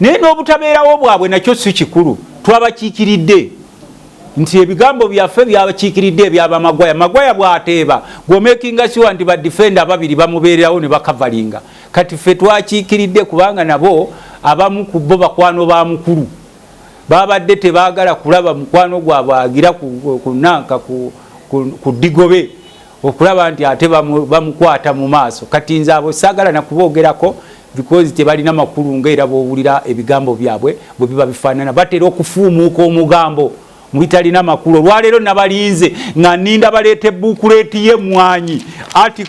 naye n'obutabeerawo bwabwe nakyo si kikulu twabakiikiridde nti ebigambo byaffe byabakiikiridde ebyaba magwaya magwaya bwateeba gwomekinga siwa nti badifenda ababiri bamubeererawo ne bakavalinga kati ffe twakiikiridde kubanga nabo abamu ku bo bakwano ba mukulu babadde tebaagala kulaba mukwano gwabwe agira kunanka ku ddigobe okulaba nti ate bamukwata mu maaso kati nze abo sagala nakuboogerako because tebalina makulu nga era bwowulira ebigambo byabwe bwe biba bifaanana batera okufuumuuka omugambo mu bitalina makulu olwaleero nabalinze nga ninda baleeta ebbuukuleeti ye mwanyi ati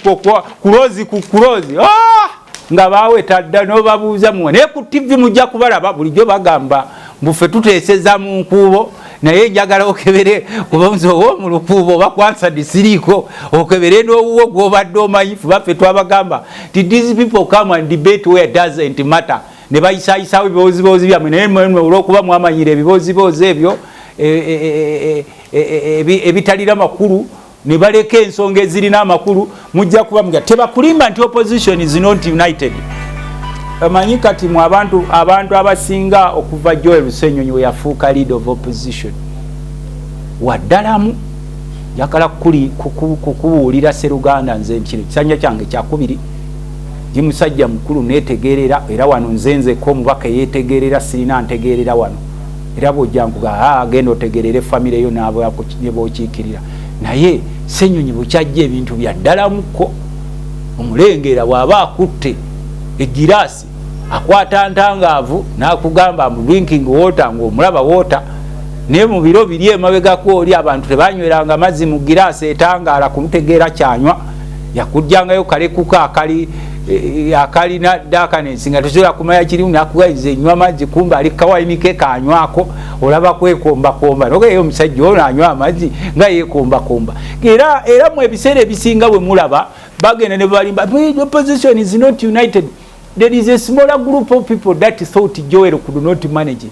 kulozi ku kulozi ah! nga baweta dda nobabuuza muwa naye ku tivi mujja kubalaba bulijjo bagamba mbufe tuteeseza mu nkuubo naye njagala okebere kuba nze owo mu lukuubo oba kwansa disiriiko okebere n'owuwo gwobadde omanyi fuba ffe twabagamba ti these people come and debate where doesn't matter ne bayisayisaawo ebibooziboozi byammwe naye mwe olwokuba mwamanyira ebibooziboozi ebyo e, e, e, ebitalira makulu ne baleka ensonga ezirina amakulu mujja kuba mga tebakulimba nti opposition is not united omanyi kati mu abantu abantu abasinga okuva joel lusenyonyi weyafuuka lead of opposition waddalamu njagala kukubuulira seruganda nze nkino kisanja kyange kyakubiri ndi musajja mukulu netegeerera era wano nzenzeko omubaka eyetegeerera sirina ntegeerera wano era bwojja nkuga ah, agenda otegerere famire yo nebokikirira naye senyonyi bukyajja ebintu byaddalamuko omulengera bwaba akutte egiraasi akwata ntangaavu nakugamba mu drinking water ngaomulaba water naye mu biro biri emabegako oli abantu tebanyweranga mazzi mu giraasi etangaala kumutegeera kyanywa yakujjangayo kalekuka akali eh, eh, akalina dakanensi nga tosobola kumanya kirimu nakuwaiza enywa amazzi kumba ali kawainike kanywako olaba kwekombakomba nogeyo omusajja ono anywa amazzi nga yekombakomba era era mu ebiseera ebisinga bwe mulaba bagenda ne balimba opposition is not united there is a smaller group of people that thought joel could not manage it.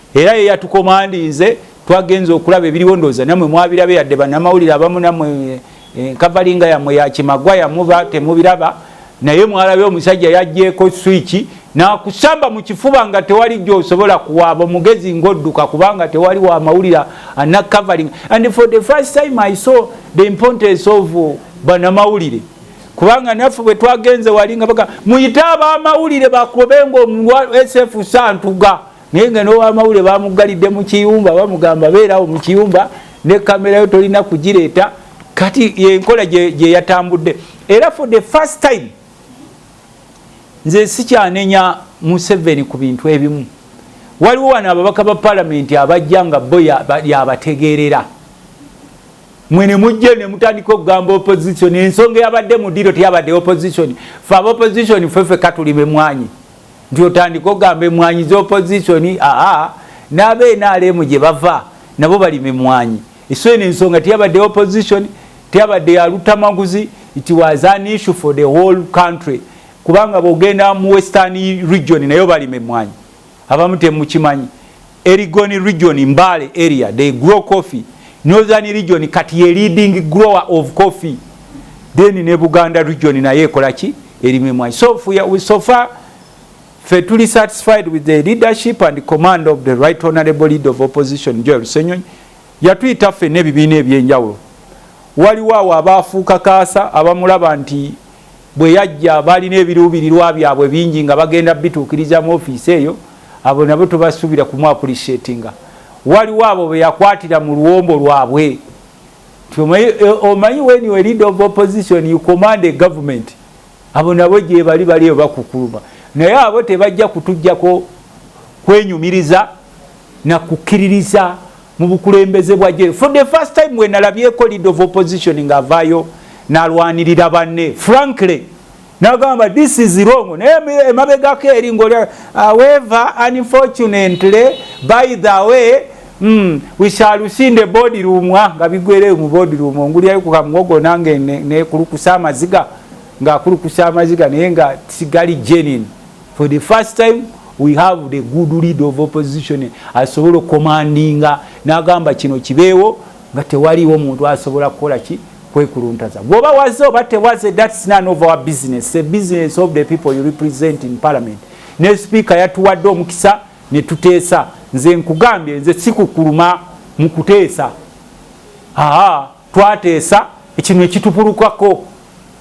era ye yatukomandinze twagenze okulaba ebiriwo ndooza namwe mwabirabe yadde banamawulire abamu namwe eh, nkavalinga yamwe yakimagwa yamuba temubiraba naye mwalabe omusajja yajjeeko swiki nakusamba mu kifuba nga tewali gyosobola kuwaaba omugezi ngaodduka kubanga tewali wa mawulire anakavaling and for the first time i saw the importance of banamawulire kubanga naffe bwe twagenze wali nga baga muyite abamawulire bakubenga omulwa sf santuga naye nga nowamawulire bamuggalidde mu kiyumba bamugamba beerawo mu kiyumba ne kamera yo tolina kugireeta kati yenkola gyeyatambudde era for the first time nze sikyanenya museveni ku bintu ebimu waliwo wano ababaka ba palamenti abajja nga bo yabategeerera mwe ne mujje ne mutandika okugamba opposition ensonga yabadde mu diro teyabadde opposition fe aba opposition fefeka tuli bemwanyi nti otandika ogamba emwanyi zopozisoni aa naaba enalemu gyebava nabo balima emwanyi so eno ensonga teyabadde opposition teyabadde yalutamaguzi it was an issue for the whole country kubanga bwogenda mu western region nayo balima emwanyi abamu temukimanyi Erigoni region Mbale area they grow coffee. Northern region kati ye leading grower of coffee. Then ne Buganda region naye ekola ki erime mwanyi. So for we so far fe tuli satisfied with the leadership and command of the right honorable leader of opposition Joel Senyonyi yatuyita ffe n'ebibiina ebyenjawulo waliwo awo abaafuuka kaasa abamulaba nti bwe yajja baalina ebiruubirirwa byabwe bingi nga bagenda bituukiriza mu ofiisi eyo abo nabo tubasuubira kumwapulishetinga waliwo abo be yakwatira mu luwombo lwabwe nti eh, omanyi weni we leader of opposition you command a government abo nabo gyebali baliyo bakukuluma naye abo tebajja kutujjako kwenyumiriza nakukkiririza mu bukulembeze bwa jeri for the first time wenalabyeko lead of opposition ngaavaayo nalwanirira banne frankly nagamba this is wrong naye emabegako eri ngoli however unfortunately by the way mm, we shall see the body room ah, nga bigwereyo mu body room onguliayo kukamugogo nange nekulukusa amaziga ngaakulukusa amaziga naye nga sigali genin for the first time we have the good lead of opposition asobola okomandinga nagamba kino kibeewo nga tewaliwo muntu asobola kukola ki kwekuluntaza gwoba waze oba tewaze thats none of our business the business of the people you represent in parliament ne speaker yatuwadde omukisa ne tuteesa nze nkugambye nze sikukuluma mu kuteesa aa twateesa kino ekitupulukako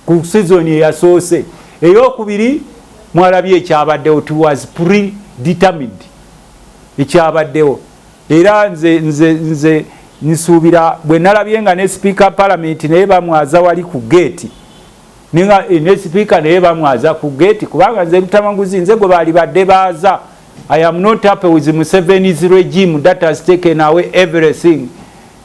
ku sizoni eyasoose eyokubiri mwalabye ekyabaddewo t was pre determined ekyabaddewo era nze nze nze nsuubira bwe nalabye nga ne sipiika palamenti naye bamwaza wali ku geeti ninga eh, ne sipiika naye bamwaza ku geeti kubanga nze lutamaguzi nze gwe baali badde baaza i am not happy with museveni's regime that has taken away everything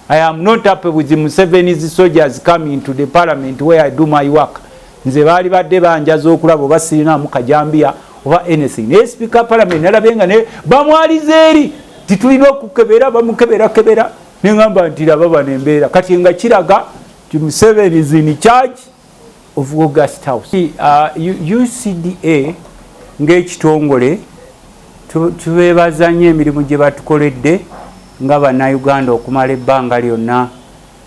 I am not happy with Museveni's soldiers coming to the parliament where I do my work. Nze baali badde banjaza okulaba oba sirinaamu kajambiya oba anything. Naye speaker parliament nalabye nga ne bamwaliza eri titulina okukebera bamukeberakebera ne ngamba nti laba bano embeera kati nga kiraga ti Museveni is in charge. ovuga ogast house ucda uh, ng'ekitongole tubeebaza nnyo emirimu gye batukoledde nga bannayuganda okumala ebbanga lyonna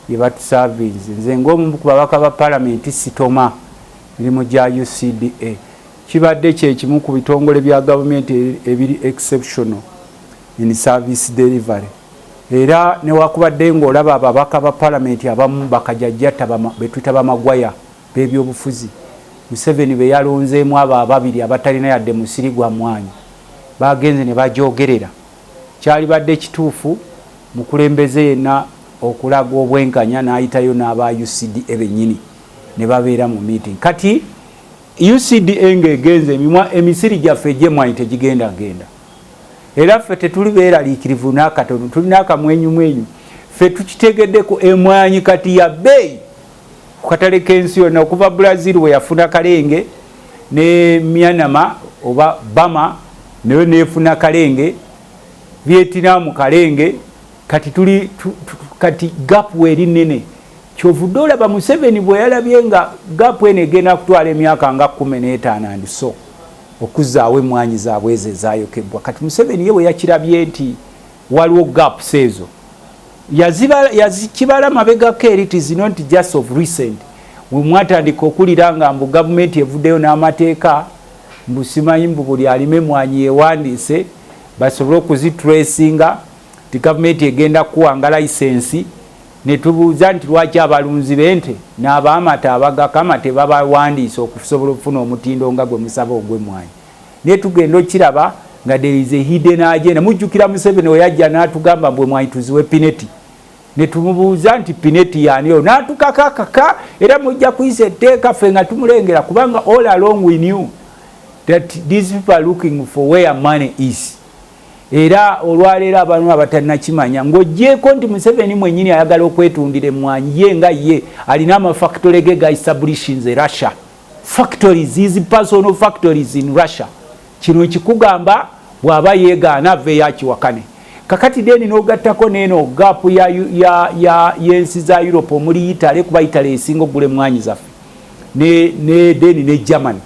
lye batusavinze nze ng'omu ku babaka ba palamenti sitoma mirimu gya ucda kibadde kyekimu ku bitongole bya gavumenti ebiri exceptional in service delivery Era newakubadde ng'olaba ababaka ba Palamenti abamu bakajajjatta be tuyita bamagwaya b'ebyobufuzi Museveni be yalonzeemu abo ababiri abatalina yadde musiri gwa mmwaanyi baagenze ne bagyogerera, kyalibadde kituufu mukulembeze yenna okulaga obwenkanya n'ayitayo n'aba UCDA bennyini ne babeera mu miitingi. Kati UCDA ng'egenze emimwa emisiri gyaffe egy'emmwaanyi tegigendagenda. era ffe tetuli beeraliikirivu n'akatono tulina akamwenyumwenyu ffe tukitegeddeko emwanyi kati ya bbeeyi ku katale k'ensi yonna okuva brazil we yafuna kalenge ne myanama oba bama nayo neefuna kalenge vietinamu kalenge kati tuli kati gapu eri nene kyovudde olaba museveni bwe yalabye nga gapu eno egenda kutwala emyaka nga kumi n'etaano andiso okuzaawo emwanyi zaabwe ezo ezayokebbwa kati museveni ye weyakirabye nti waliwo gaps ezo yazikibala mabegako eri it is not just of recent wemwatandika okulira nga mbu gavumenti evuddeyo n'amateeka mbu simanyi mbu buli alima emwanyi yewandiise basobole okuzitracinga nti gavumenti egenda kuwanga layisensi Ne tubuuza nti lwaki abalunzi b'ente n'abaamata abagakama tebabawandiisa okusobola okufuna omutindo nga gwe musaba ogw'emmwanyi. Naye tugenda okiraba nga there is a hidden agenda. Mujjukira Museveni we yajja n'atugamba mbu emmwanyi tuziwe Pineti. Ne tumubuuza nti Pineti y'ani oyo? N'atukakakaka era mujja kuyisa etteeka ffe nga tumulengera kubanga all along we knew that these people are looking for where money is. era olwaleero abamu abatanakimanya ng'ogyeko nti museveni mwenyini ayagala okwetundira emmwanyi ye nga ye alina amafactory ge gaistablishinz e russia factories is personal factories in russia kino kikugamba bw'aba yeegaana aveeyo akiwakane kakati deni n'ogattako neeno gaapu y'ensi za europe omuli itale kuba itale esinga okugula emmwanyi zaffe ne deni ne germany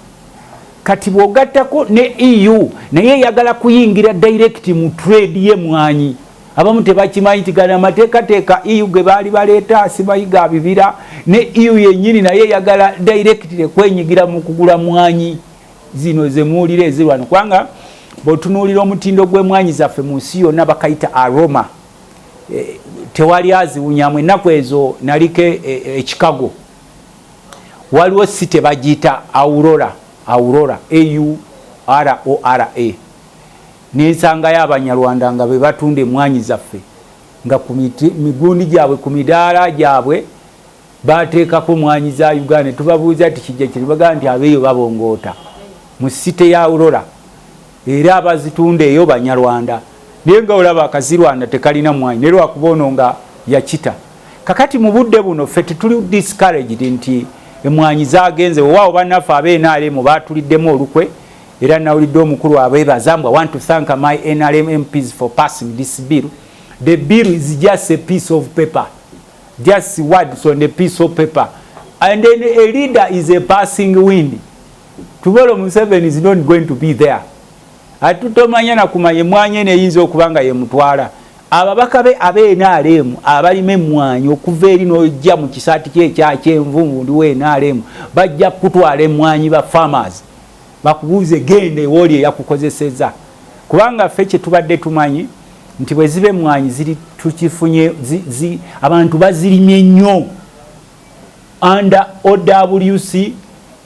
kati bwogattako ne eu naye eyagala kuyingira direct mu trade ye mwanyi abamu tebakimanyi nti gala amateekateeka eu ge baali baleeta sibayiga bibira ne eu yenyini naye eyagala directly kwenyigira mu kugula mwanyi zino zemuwulira ezirwano kubanga bwotunuulira omutindo gw'emwanyi zaffe mu nsi yonna bakayita aroma e, tewali aziwunyamu ennaku ezo naliko ekikago e, e, waliwo site bagiyita aurora aurora aurora nensangayo abanyarwanda nga bebatunda emwanyi zaffe nga migundi gyabwe ku midaala gyabwe bateekako mwanyi za uganda tubabuuza ti kijja kiribaga nti abeeyo babongoota mu site ya aurora era abazitunda eyo banyarwanda naye nga olaba akazirwanda tekalina mwanyi naye lwakuba ono nga yakita kakati mu budde buno ffe tetuli discouraged nti emwanyi zagenze wewaawo banaffe abenrm batuliddemu olukwe era nawulidde omukulu abebaza mbwa want to thank my nrm mps for passing this bill the bill is just a piece of paper just words on a piece of paper and then a leader is a passing wind Tubolo Museveni is not going to be there. Atutomanya na kumanya emwanyi eno eyinza okuba nga yemutwala. Ababaka be abe NRM abalima emwanyi okuva eri n'ojja mu kisaati kye ekya kyenvu mbu ndi we NRM bajja kutwala emwanyi ba farmers bakubuuze genda ewoli eyakukozeseza kubanga ffe kye tubadde tumanyi nti bwe ziba emwanyi ziri tukifunye zi, zi, abantu bazirimye nnyo under OWC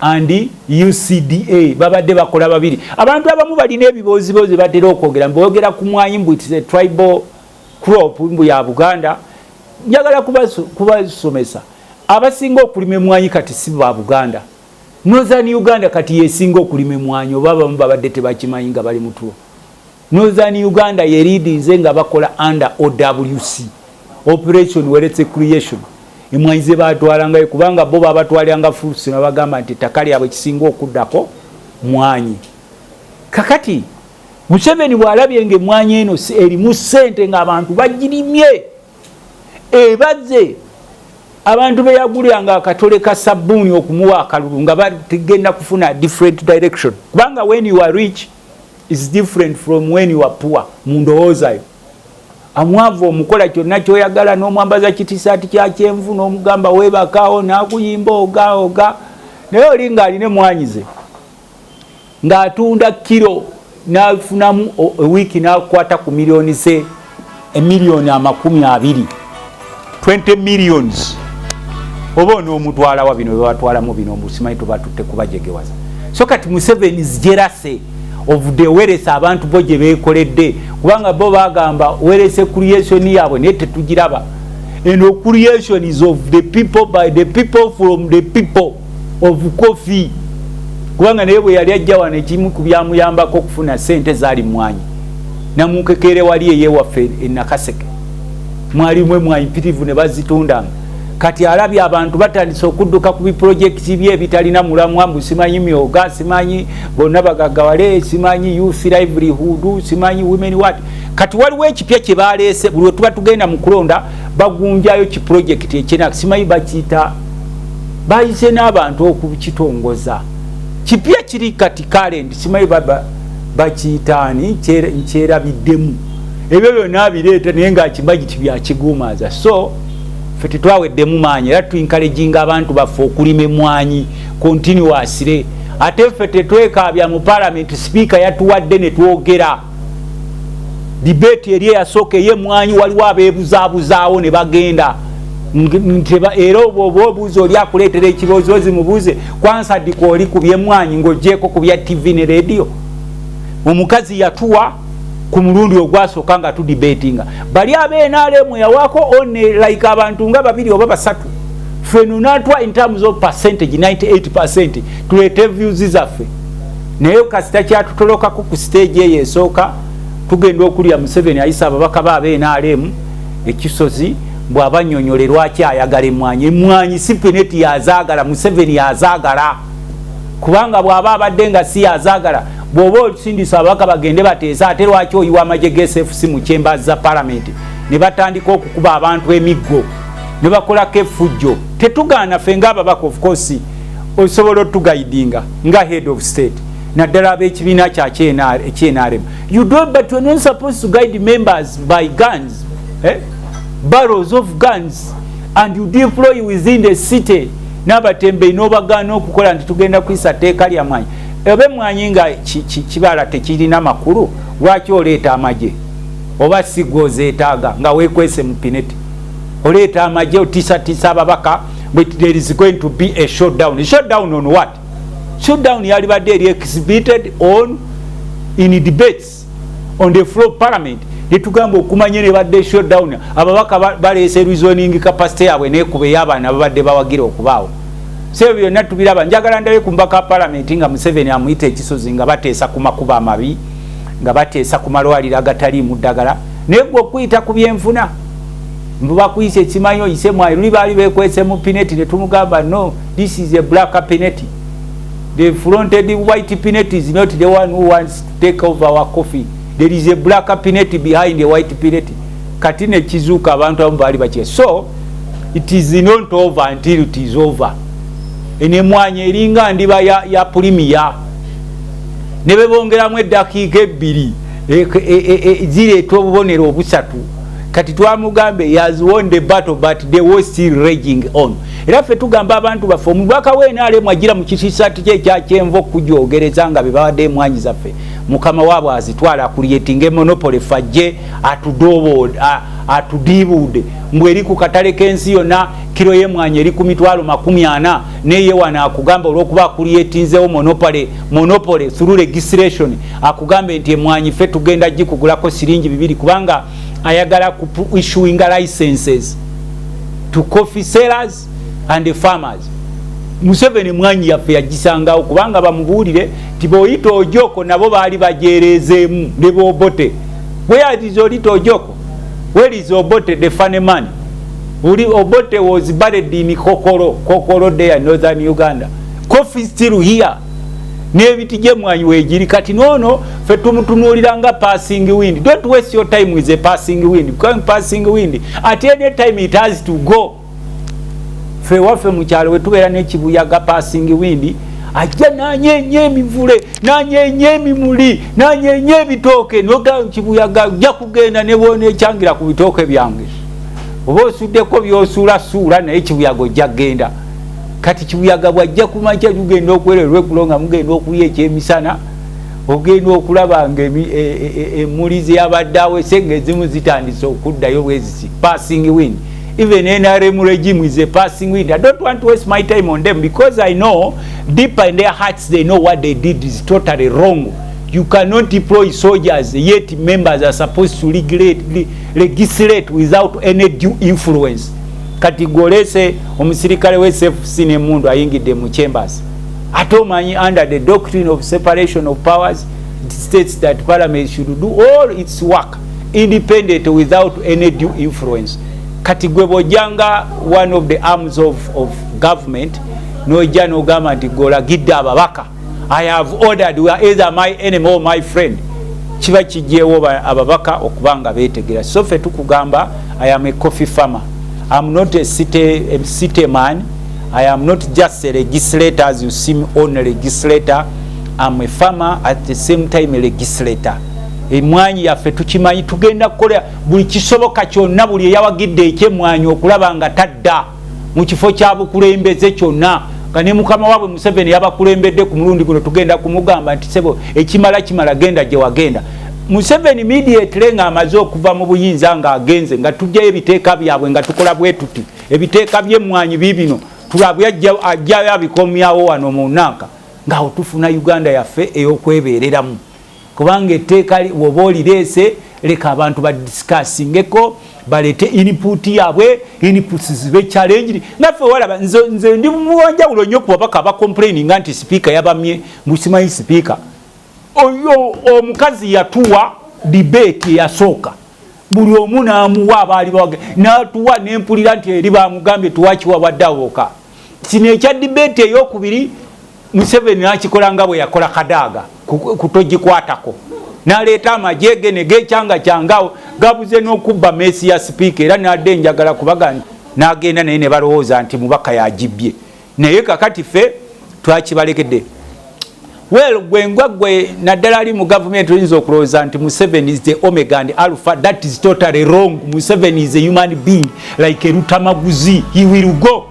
and UCDA babadde bakola babiri abantu abamu balina ebibooziboozi batera okwogera mboyogera ku mwayi mbu its a tribal crop mbu ya Buganda njagala kubasomesa abasinga okulima emwanyi kati si ba Buganda Northern Uganda kati yesinga okulima emwanyi oba abamu babadde tebakimanyi nga bali mutulo Northern Uganda yeriidinze nga bakola under OWC operation weretse creation emwanyi ze baatwalangayo kubanga bo babatwaliranga fruits nga bagamba nti ettaka lyabwe kisinga okuddako mwanyi kakati museveni bwalabye nga emwanyi eno erimu sente ngaabantu bagirimye ebaze abantu beyaguliranga akatole ka sabbuuni okumuwa akalulu nga bagenda kufuna different direction kubanga when you are rich is different from when you are poor mu ndowooza yo amwavu omukola kyonna kyoyagala n'omwambaza kitisaati kya kyenvu n'omugamba weebakaawo n'akuyimba oga oga naye oli ng'alina emwanyize ng'atunda kiro n'afunamu ewiiki n'akwata ku miliyoni ze emiliyoni amakumi abiri 20 millions oba onomutwalawa bino bebatwalamu bino mbusimanyi tubatutte kubajegewaza so kati museveni zjerase ovude weresa abantu bo gye bekoledde kubanga bo bagamba werese creation yaabwe naye tetugiraba eno creation is of the people by the people from the people of coffee kubanga naye bwe yali ajja wano ekimu ku byamuyambako okufuna sente zaali mwanyi namunkekeere wali eyewaffe enakaseke mwalimu emwayimpirivu ne bazitundanga kati alabye abantu batandise okudduka ku bipulojekiti bye ebitalina mulamwa mbu simanyi myoga simanyi bonna bagagawale simanyi youth livelihood simanyi women wat kati waliwo ekipya kye baleese buli wetuba tugenda mu kulonda bagunjayo kipulojekiti ekyena simanyi bakiyita bayise n'abantu okukitongoza kipya kiri kati kale nti simanyi baba bakiyitaani nkyerabiddemu ebyo byonna abireeta naye ngaakimanyi ti byakiguumaaza so fe tetwaweddemu maanyi era tuinkalejinga abantu baffe okulima emwanyi kontinuasire ate ffe tetwekaabya mu palamenti sipiika yatuwadde ne twogera dibeeti eri eyasooka eyemwanyi waliwo abeebuzabuzaawo ne bagenda era obwoba obuuza oli akuleetera ekibozoozi mubuuze kwansadika oli ku byemwanyi ng'ogyeko ku bya tivi ne rediyo omukazi yatuwa ku mulundi ogwasooka nga tudibeetinga bali abeenaalemu yawaako one like abantu nga babiri oba basatu ffe nonatwa in terms of percentage 98 percent tuleete views zaffe naye kasita kyatutolokako ku siteegi eyo esooka tugenda okulya museveni ayisa ababaka be abenrm ekisozi bwabanyonyole lwaki ayagala emwanyi emwanyi si peneti yazagala museveni yazagala kubanga bwaba abadde nga si yazagala bwoba osindiso ababaka bagende bateese ate lwaki oyiwa amagye gsfc mu kyemba za palamenti ne batandika okukuba abantu emiggo ne bakolako efujjo tetugaana fe nga ababaka ofcourse osobola otugaidinga nga head of state naddala abekibiina kyakyenarem you don't but you're not supposed to guide members by guns eh? barrels of guns and you deploy within the city n'abatembeyi n'obagaana okukola nti tugenda kuyisa tteeka lya mwanyi oba emwanyi nga kibala tekirina makulu lwaki oleeta amagye oba sigwa ozeetaaga nga weekwese mu pineti oleeta amagye otiisatiisa ababaka but there is going to be a shutdown a shutdown on what shutdown yalibadde eri exhibited on in debates on the floor of parliament netugamba okumanya nebadde shutdown ababaka baleese reasoning capacity yabwe nekuba eyabaana babadde bawagira okubaawo sebo byonna tubiraba njagala ndabe ku mbaka palamenti nga museveni amuyita ekisozi nga bateesa ku makuba amabi nga bateesa ku malwaliro agataliimu ddagala naye gwe okuyita ku byenfuna mbu bakuyise kimanyi oyise mwayi luli baali bekwese mu pineti netumugamba no this is a black peneti the fronted white peneti is not the one who wants to take over our coffee there is a black peneti behind a white peneti kati nekizuuka abantu abamu baali bakye so it is not over until it is over enemwanya eringa ndiba ya, ya pulimiya ne bebongeramu eddakiika ebbiri e, e, e, e, zireeta obubonero obusatu kati twamugambye yas won the battle but the war still raging on era ffe tugamba abantu baffe omubaka wenrm ajira mu kisisati kye ekyakyenva okujogereza nga bebabadde emwanyi zaffe mukama waabwe azitwala akulyetinga emonopoly fajje atudiibuude mbu eri ku katale k'ensi yonna kiro yemwanyi eri ku mitwalo makumi ana neye wano akugamba olwokuba akulyetinzewo monopole monopole through registration akugambe nti emwanyi fe tugenda gikugulako siringi bibiri kubanga ayagala ku issuing licenses to coffee sellers and the farmers museveni emwanyi yaffe yagisangawo kubanga bamubuulire nti boyita ojoko nabo baali bajereezeemu ne bobote weyaliza olita ojoko weliza obote the funny man uli obote was buried in kokoro kokoro there northern uganda coffee still here n'ebiti gyemwanyi wegiri kati noono fe tumutunuulira nga passing wind don't waste your time with a passing wind because passing wind at any time it has to go fe waffe mu kyalo we tubeera n'ekibuyaga passing wind ajja nanyeenya emivule nanyeenya emimuli nanyeenya ebitooke noga kibuyaga ajja kugenda nebwona ekyangira ku bitooke byange oba osuddeko byosuula suula naye kibuyaga ojja kugenda kati kibuyaga bwajja kumakya tugenda okwera olwekulo nga mugenda okulya ekyemisana ogenda okulaba nga e, e, e, emuli zeyabadde awese nga ezimu zitandise okuddayo bwezisi passing win even nrm regime is a passing win i don't want to waste my time on them because i know deep in their hearts they know what they did is totally wrong you cannot deploy soldiers yet members are supposed to legislate without any due influence kati gwolese omusirikale we cfc nemundu ayingidde mu chambers ate omanyi under the doctrine of separation of powers it states that parliament should do all its work independent without any due influence kati gwe bwojanga one of the arms of, of government nojja nogamba nti gweolagidde ababaka i have ordered were either my enemy or my friend kiba kijewo ababaka okuba nga betegera so fe tukugamba i am a coffee farmer iam not a city, a city man i am not just a legislator as you see me on a legislator am a farmer at the same time a legislator emwanyi yaffe tukimanyi tugenda kukola buli kisoboka kyonna buli eyawagidde ekyemwanyi okulaba nga tadda mu kifo kya bukulembeze kyonna nga ne mukama waabwe museveni yabakulembedde ku mulundi guno tugenda kumugamba nti sebo ekimala kimala genda gye wagenda museveni midiatle nga amaze okuva mu buyinza nga agenze nga tujjayo ebiteeka byabwe nga tukola bwe tuti ebiteeka byemmwanyi biibino tulabwe ajjayo abikomyawo wano mu nanka ngaawo tufuna uganda yaffe ey'okwebeereramu kubanga etteeka woba olireese leka abantu badisikaasingeko baleete input yaabwe inputs zibe challenge naffe walaba nze ndi muwanjawulo nnyo ku babaka abacomplaininga nti sipiika yabamye musimanyi sipiika oyo omukazi yatuwa debate eyasooka buli omu n'amuwa abaali bawage n'atuwa nempulira nti eri bamugambye tuwakiwa wadde awooka kino ekya dibeeti eyokubiri museveni nakikola nga bwe yakola kadaaga kutogikwatako naleeta amagye ge negekyanga kyangaawo gabuze n'okubba meesi ya sipiika era nadde njagala kubaga nagenda naye ne balowooza nti mubaka yagibbye naye kakati ffe twakibalekede well gwe ngwa gwe naddala ali mu gavumenti oyinza okulowooza nti museven is the omega and alpha that is totally wrong museven is a human being like erutamaguzi he will go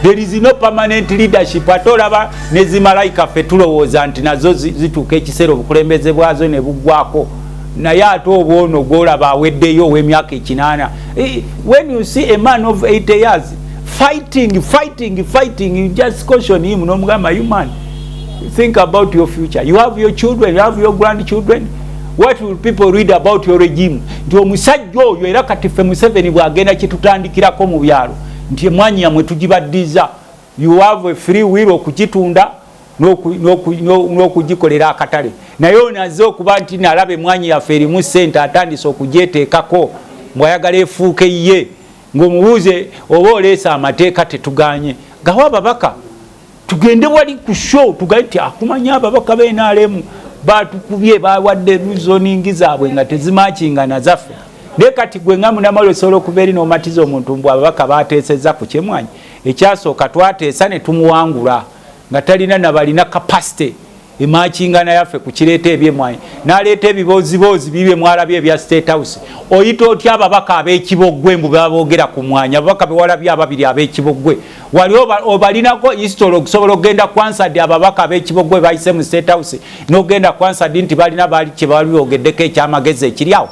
there is no permanent leadership ate olaba nezimalayika ffe tulowooza nti nazo zituuka ekiseera obukulembeze bwazo ne buggwako naye ate oba ono gwolaba aweddeyo ow'emyaka ekinaana eh, when you see a man of 8 years fighting fighting fighting you just caution him nomugamba you man think about your future you have your children you have your grandchildren what will people read about your regime nti omusajja oyo era kati fe museveni bwagenda kyetutandikirako mu byalo nti emwanyi yamwe tugibaddiza you have a free will okugitunda n'okugikolera akatale naye onaze okuba nti nalaba emwanyi yaffe erimu sente atandise okugyeteekako mbwayagala efuuke ye ngaomubuuze oba oleese amateeka tetuganye gawe ababaka tugende wali ku show tugae ti akumanye ababaka benalemu batukubye bawadde zoningi zaabwe nga tezimakinga nazaffe naye kati gwe nga munamalo esobola okuva eri nomatiza omuntu mbu ababaka bateeseza ku kyemwanyi ekyasooka twateesa ne tumuwangula nga talina nabalina kapasite emakingana yaffe kukireeta ebyemwanyi naleeta ebibooziboozi bibye mwalabye ebya state house oyita otya ababaka ab'ekiboggwe mbu babogera ku mwanyi ababaka bewalabye ababiri ab'ekiboggwe wali obalinako istole okusobola okugenda kwansadi ababaka ab'ekiboggwe bayise mu state house n'okugenda kwansadi nti balina bali kye bali bogeddeko ekyamagezi ekiri awo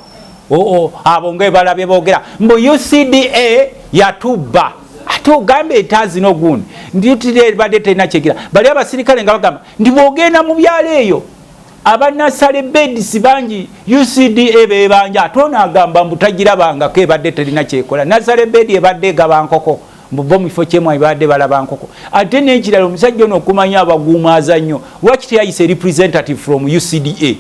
abo ngaebalabye boogera mbu ucda yatubba ate ogamba entaazi nogundi ndibadde terina kyegira bali abasirikale nga bagamba ndi bwogenda mu byalo eyo abanasale bedisi bangi ucda bebanja ate ono agamba mbutagirabangako ebadde terina kyekola nasale bedi ebadde egaba nkoko mbubo mukifo kyemu ebadde balaba nkoko ate nekirala omusajja ono okumanya abaguumaaza nnyo lwaki teyayise representative from ucda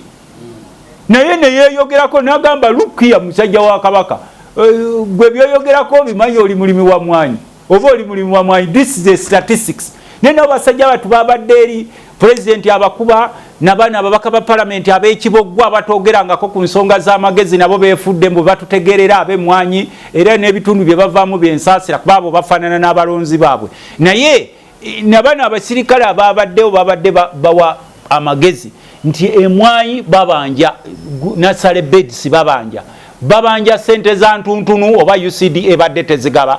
naye neyeyogerako nagamba lukiya musajja wa kabaka eh, gwe byoyogerako obimanyi oli mulimi wa mwanyi oba oli mulimi wa mwanyi this is a statistics naye nabo basajja batu babadde eri pulezidenti abakuba nabana ababaka ba palamenti ab'ekiboggwa abatoogerangako ku nsonga z'amagezi nabo beefudde mbu batutegerera ab'emmwanyi era n'ebitundu bye bavaamu byensaasira kuba abo bafaanana n'abalonzi baabwe naye nabano abasirikale ababaddewo babadde bawa amagezi nti emwayi babanja nasale beds babanja babanja sente za ntuntunu oba ucd ebadde tezigaba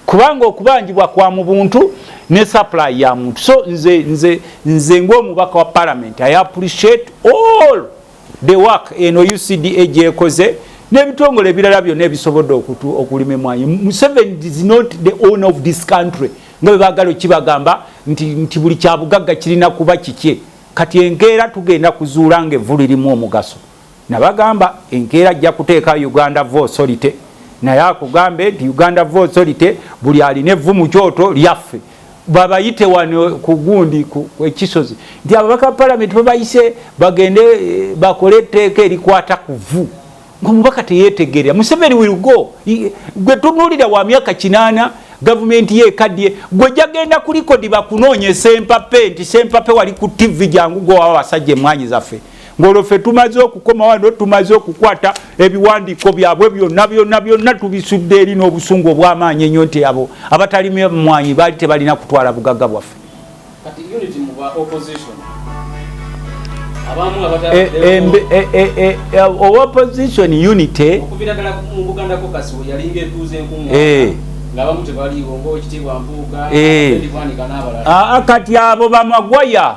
kubanga okubanjibwa kwa mu buntu ne supply ya muntu so nze nze nze ng'omubaka wa parliament i appreciate all the work eno ucda gyekoze nebitongole ebirala byonna ebisobodde okulima emwanyi museven is not the owner of this country nga bebagala okibagamba nti, nti buli kyabugagga kirina kuba kikye kati enkeera tugenda kuzuula nga evvu lirimu omugaso nabagamba enkeera ajja kuteeka uganda vo authority naye akugambe nti uganda vo authority buli alina evvu mu kyoto lyaffe babayite wano ku gundi ekisozi nti ababaka ba palamenti babayise bagende eh, bakole etteeka erikwata ku vu ngaomubaka teyetegerera museveni wilgo gwe tunuulira wa myaka kinaana gavumenti yekadye gwe jagenda kulikodi bakunoonye sempape nti sempape wali ku tivi jangu gwe waba basajja emwanyi zaffe ng'olwo ffe tumaze okukoma wano tumaze okukwata ebiwandiiko byabwe byonna byonna byonna tubisudde eri n'obusungu obw'amaanyi ennyo nti abo abatali mwanyi baali tebalina kutwala bugagga bwaffe Eh, eh, eh, owa opposition unity ah, ah, kati abo bamagwaya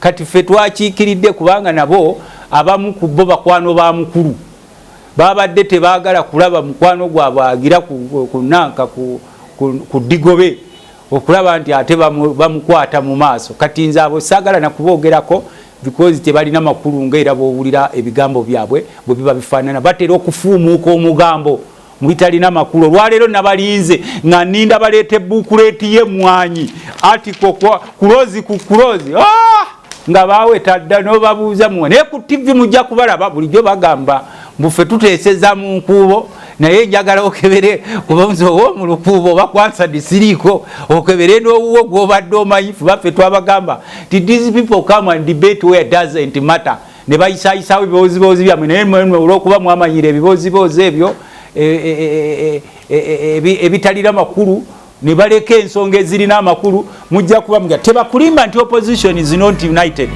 kati ffe twakiikiridde kubanga nabo abamu ku bo bakwano ba mukulu babadde tebaagala kulaba mukwano gwabwe agira ku nanka ku ddigobe okulaba nti ate bamukwata mu maaso kati nze abo saagala nakuboogerako because tebalina makulu nga era bowulira ebigambo byabwe bwe biba bifaanana batera okufuumuuka omugambo mubitalina makulu olwaleero nabalinze nga ninda baleete bukuleeti ye mwanyi atiko kulozi ku kulozi ah! nga baweta dda nobabuuza mu naye ku tivi mujja kubalaba bulijjo bagamba mbufe tuteeseza mu nkuubo naye njagala okebere kubamzi owo mu lukuubo oba kwansa disiriiko okebere n'owuwo gwobadde omanyi fubaffe twabagamba ti these people come and debate where doesn't matter ne bayisaayisaawo ebibooziboozi byammwe naye mmwe olw'okuba mwamanyira ebibooziboozi ebyo e, e, e, ebitalina makulu ne baleka ensonga ezirina amakulu mujja kuba mga tebakulimba nti opposition is not united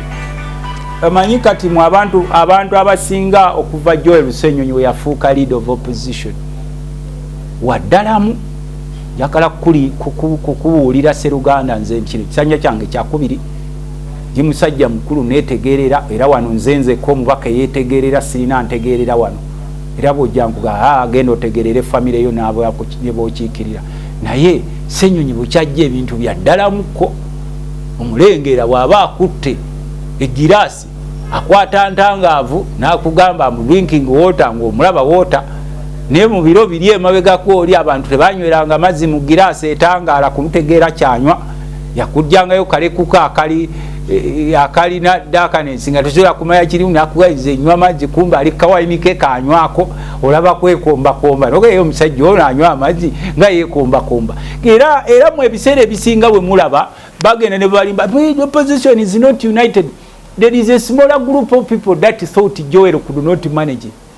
omanyi kati mu abantu abantu abasinga okuva joel lusenyonyi weyafuuka lead of opposition waddalamu yakala kukubuulira seruganda nze kino kisanja kyange kyakubiri ndi musajja mukulu netegerera era wano nzenzeko omubaka eyetegerera sirina ntegerera wano era bwojankuga ah, agenda otegerere famire yo nebokikirira naye senyonyi bukyajja ebintu byaddalamuko omulengera bwaba akutte egiraasi akwata ntangaavu nakugamba mu drinking water ngaomulaba water naye mu biro biri emabegako oli abantu tebanyweranga mazzi mu giraasi etangaala kumutegeera kyanywa yakujjangayo kalekuka akali eh, eh, akalina dakanensi nga tosobola kumanya kirimu nakuwaiza enywa amazzi kumba ali kawainike kanywako olaba kwekombakomba nogeyo omusajja ono anywa amazzi nga yekombakomba era era mu ebiseera ebisinga bwe mulaba bagenda ne balimba opposition is not united there is a smaller group of people that thought joel could not manage it.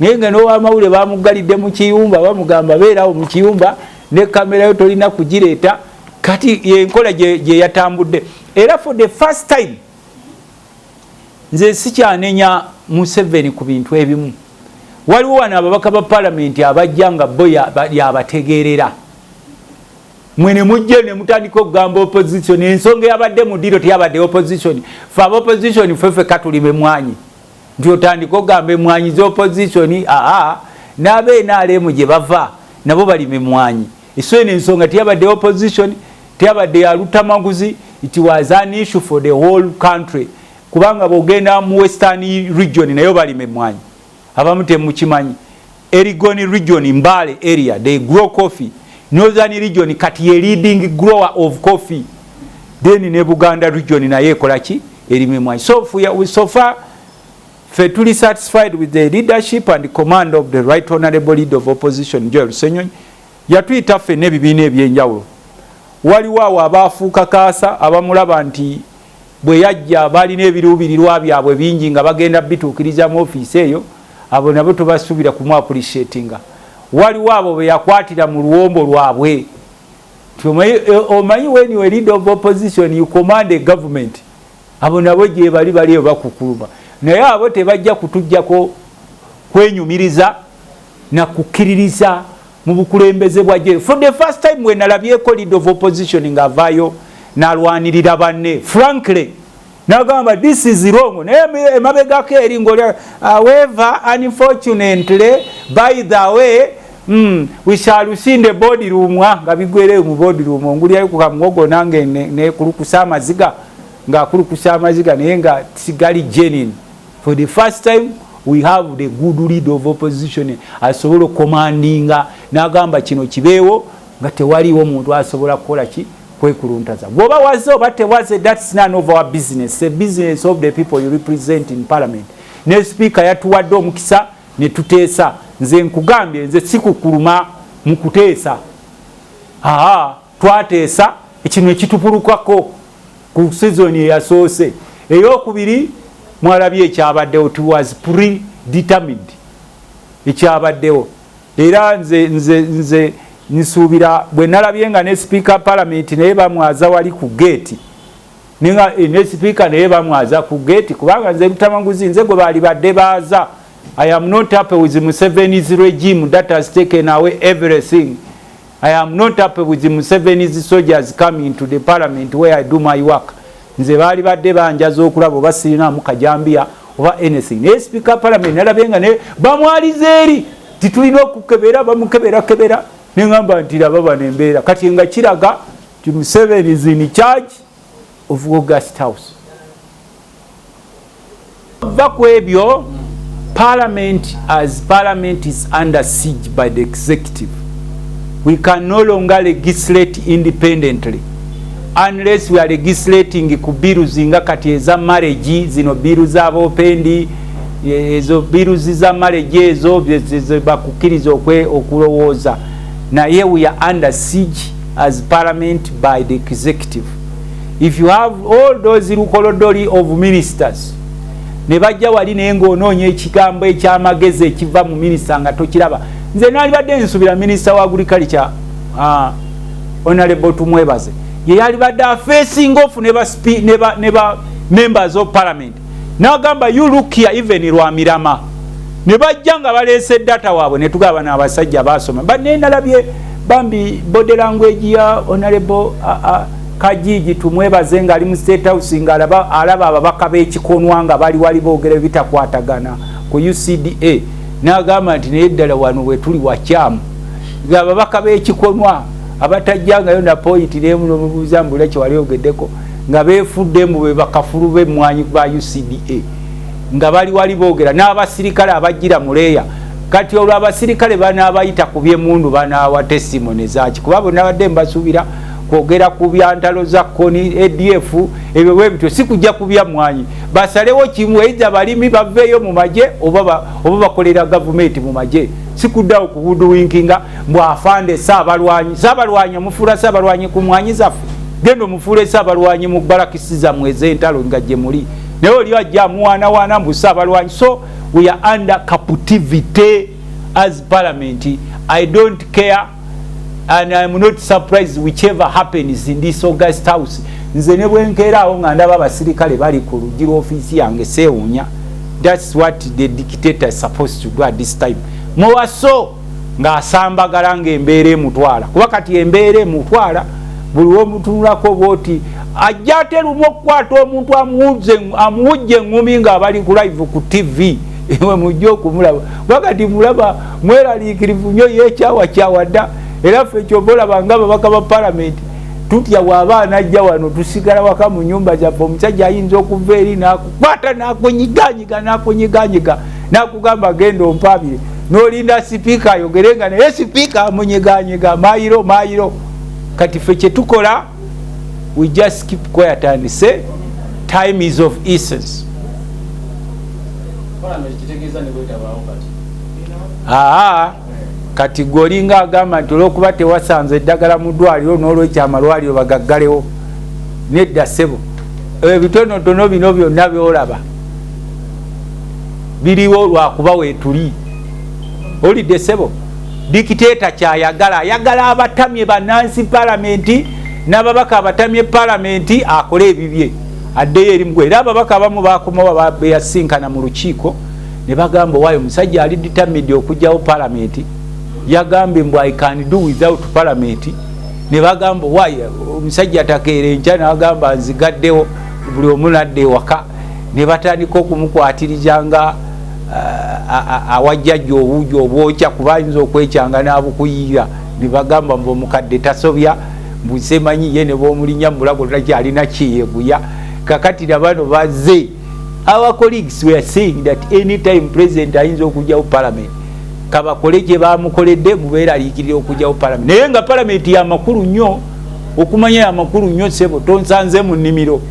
naye nga nowamawulire bamuggalidde mu kiyumba bamugamba beerawo mu kiyumba ne kamera yo tolina kugireeta kati yenkola gyeyatambudde era for the first time nze sikyanenya museveni ku bintu ebimu waliwo wano ababaka ba palamenti abajja nga bo yabategeerera mwene mujje nemutandika okugamba opposition ensonga yabadde mu diro teyabadde opposition fe aba opposition fefe katuli bemwanyi nti otandika ogamba emwanyi za opposition aa n'aba enaalemu gye bava nabo balima emwanyi so eno ensonga teyabadde opposition teyabadde ya lutamaguzi it was an issue for the whole country kubanga bwogenda mu western region nayo balima emwanyi abamu temukimanyi Erigoni region Mbale area they grow coffee. Northern region kati ye leading grower of coffee. Then ne Buganda region naye ekola ki erima emwanyi. So, we, so far fe tuli satisfied with the leadership and command of the right honorable leader of opposition Joel Senyonyi yatuyita ffe n'ebibiina ebyenjawulo. Waliwo awo abaafuuka kaasa abamulaba nti bwe yajja baalina ebiruubirirwa byabwe bingi nga bagenda bituukiriza mu ofiisi eyo abo nabo tubasuubira kumwapulishetinga waliwo abo be yakwatira mu luwombo lwabwe omanyi eh, weni elid of opposition you command a government abo nabo gyebali baliyo bakukuluma naye abo tebajja kutujjako kwenyumiriza na kukkiririza mu bukulembeze bwa jere for the first time wenalabyeko lead of opposition nga avayo nalwanirira banne frankly nagamba this is wrong naye emabegako eri ngoli however unfortunately by the way mm, we shall see the body room ah, nga bigwereyo mu body room onguliayo kukamugogo nange nekulukusa amaziga nga akulukusa amaziga naye nga sigali genin for the first time we have the good lead of opposition asobola okomandinga nagamba kino kibeewo nga tewaliwo muntu asobola kukola ki kwekuluntaza gwoba waze oba tewaze thats none of our business the business of the people you represent in parliament ne speaker yatuwadde omukisa ne tuteesa nze nkugambye nze sikukuluma mu kuteesa aa twateesa kino ekitupulukako ku sizoni eyasoose eyokubiri mwalabye ekyabaddewo t was pre determined ekyabaddewo era nze nze nze nsuubira bwe nalabye nga ne sipiika palamenti naye bamwaza wali ku geeti ninga eh, ne sipiika naye bamwaza ku geeti kubanga nze lutamaguzi nze gwe baali badde baaza i am not happy with museveni's regime that has taken away everything I am not happy with Museveni's soldiers coming to the parliament where I do my work. Nze baali badde banjaza okulaba oba sirinaamu kajambiya oba anything. Naye speaker parliament nalabye nga ne bamwaliza eri titulina okukebera bamukeberakebera ne ngamba nti laba bano embeera kati nga kiraga ti Museveni is in charge of war guest house va ku ebyo parliament as parliament is under siege by the executive we can no longer legislate independently unless we are legislating ku biru zinga kati eza marriage zino biru za bopendi e, ezo biru ziza marriage ezo bakukiriza okulowooza naye we are under siege as parliament by the executive if you have all those lukolodoli of ministers ne bajja wali naye ngaonoonya ekigambo ekyamagezi ekiva mu minisita nga tokiraba nze nalibadde nsubira minisita wa agriculture ah, onalebo tumwebaze ye yalibadde afeesinga ofu ne ba members of parliament nagamba you look here even lwamirama ne bajja nga baleese data waabwe ne tugaba na abasajja baasoma but naye nalabye bambi body language ya honorable kajiiji tumwebaze nga ali mu state house nga alaba alaba ababaka b'ekikonwa nga bali wali boogera bitakwatagana ku ucda n'agamba nti naye ddala wano we tuli wakyamu ng'ababaka b'ekikonwa abatajjangayo na poyiti nemunomubuuza mbula kyewali ogeddeko nga befudde mbu bebakafulu bemwanyi ba ucda nga bali wali bogera n'abasirikale abajjira muleeya kati olwo abasirikale banaabayita ku byemundu banaawa tesimone zaki kuba bwe nabadde mbasuubira kwogera ku byantalo za koni adf ebyo bwe bityo si kujja ku byammwanyi basalewo kimu eiza balimi baveeyo mu magye oba bakolera gavumenti mu magye si kuddawo kubuduwinkinga mbu afande saabalwanyi saabalwanyi omufuula saabalwanyi ku mwanyi zaffe genda omufuula esaabalwanyi mu balakisi zamwe ez'entalo nga gye muli naye oli ajja amuwaanawaana mbu saabalwanyi so we are under captivity as parliament i don't care and iam not surprised whichever happens in this august house nze ne bwenkeeraawo nga ndaba abasirikale bali ku luggi lw'ofiisi yange seewuunya thats what the dictator is supposed to do at this time muwaso ng'asambagala ng'embeera emutwala kuba kati embeera emutwala buli womutunulako bwoti ajja ate lumu okukwata omuntu amuwujja eŋŋumi ng'abali ku live ku tivi wemujja okumulaba kuba kati mulaba mweraliikirivu nnyo yekyawakyawa dda era ffe kyova olaba nga ababaka ba palamenti tutya bw'aba anajja wano tusigala waka mu nyumba zaffe omusajja ayinza okuva eri nakukwata nakunyiganyiga nakunyiganyiga nakugamba genda ompabire nolinda sipiika ayogere nga naye sipiika amunyeganyega mayiro mayiro kati fe kyetukola we just keep quiet and say time is of essence aa kati gwe olinga agamba nti olwokuba tewasanze eddagala mu ddwaliro n'olwekyo amalwaliro bagaggalewo nedda ssebo ebitonotono bino byonna byolaba biriwo lwakuba wetuli olidde sebo dikiteeta kyayagala ayagala abatamye banansi palamenti n'ababaka abatamye palamenti akole ebibye addeyo erimu era ababaka abamu bakomawo beyasinkana mu lukiiko ne bagamba owaayo omusajja ali ditamidi okugyawo palamenti yagambye mbu i can do without palamenti ne bagamba owaayo omusajja takeera enkya nagamba nzigaddewo buli omu nadda ewaka ne batandika okumukwatiriza nga uh, awajjajja obuuja obwokya kuba ayinza okwekyanga n'abukuyiira ne bagamba mbu omukadde tasobya mbusemanyi ye ne bomulinya mubulago takyalina kyeyeguya kakatira bano baze our colleagues were saying that anytime president ayinza okugyawo parliament kabakole gye bamukoledde mubeeraliikirira okugyawo parliament naye nga parliament yamakulu nnyo okumanya yamakulu nnyo sebo tonsanze mu nnimiro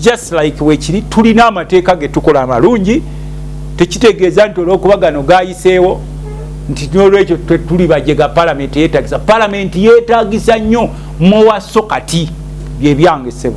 just like wekiri tulina amateeka getukola amalungi tekitegeeza nti olwokuba gano gayiseewo nti nolwekyo tuli bajega palamenti yetagisa palamenti yetagisa nnyo muwaso kati byebyange sebo